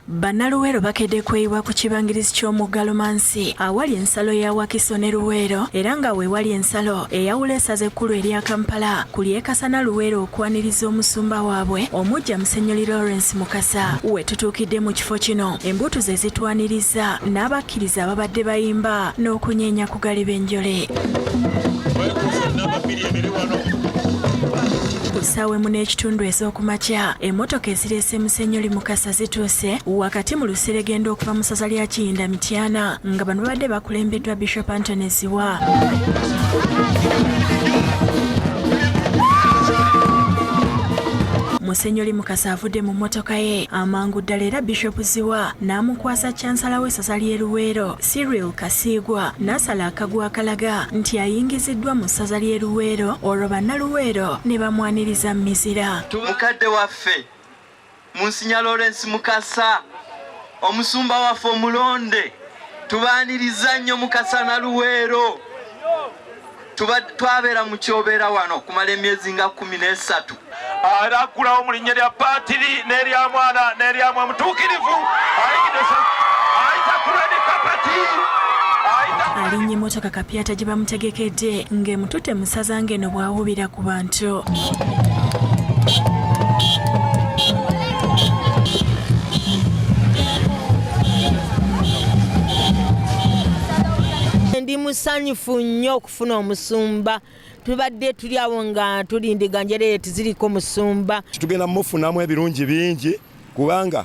Bannaluweero bakedde kweyiwa ku kibangirizi ky'omugga Lumansi awali ensalo ya Wakiso ne Luweero era nga weewali ensalo eyawula esaza ekkulu erya Kampala ku lyekasana Luweero okwaniriza omusumba waabwe omujja Musenyoli Lawrence Mukasa. We tutuukidde mu kifo kino embuutu ze zitwaniriza n'abakkiriza ababadde bayimba n'okunyeenya ku galiba enjole. Ku ssaawa emu n'ekitundu ez'okumakya emmotoka ezirese Semusenyoli Mukasa zituuse wakati mu luseregendo okuva mu ssaza lya Kiyinda Mityana nga bano babadde bakulembeddwa Bishop Anthony Ziwa musenyoli mukasa avudde mu mmotoka ye amangu ddala era bishop ziwa n'amukwasa cansala w'essaza ly'e luweero siriel kasiigwa n'asala akagwa akalaga nti ayingiziddwa mu ssaza ly'e luweero olwo bannaluweero ne bamwaniriza mu mizira waffe Munsinya Lawrence Mukasa omusumba waffe omulonde tubaaniriza nnyo Mukasa na Luweero twabeera mu kyobeera wano okumala emyezi nga kumi n'esatu era aggulawo mu linnya lya paatiri n'erya mwana n'eryamwe mutuukirivu ayita ku redi kapati alinnye mmotoka kapyata gye bamutegekedde ng'emutute musaza ng'eno bw'awuubira ku bantu ndi musanyufu nnyo okufuna omusumba tubadde tuli awo nga tulindiganjereeti ziriko musumba tugenda mufunamu ebirungi bingi kubanga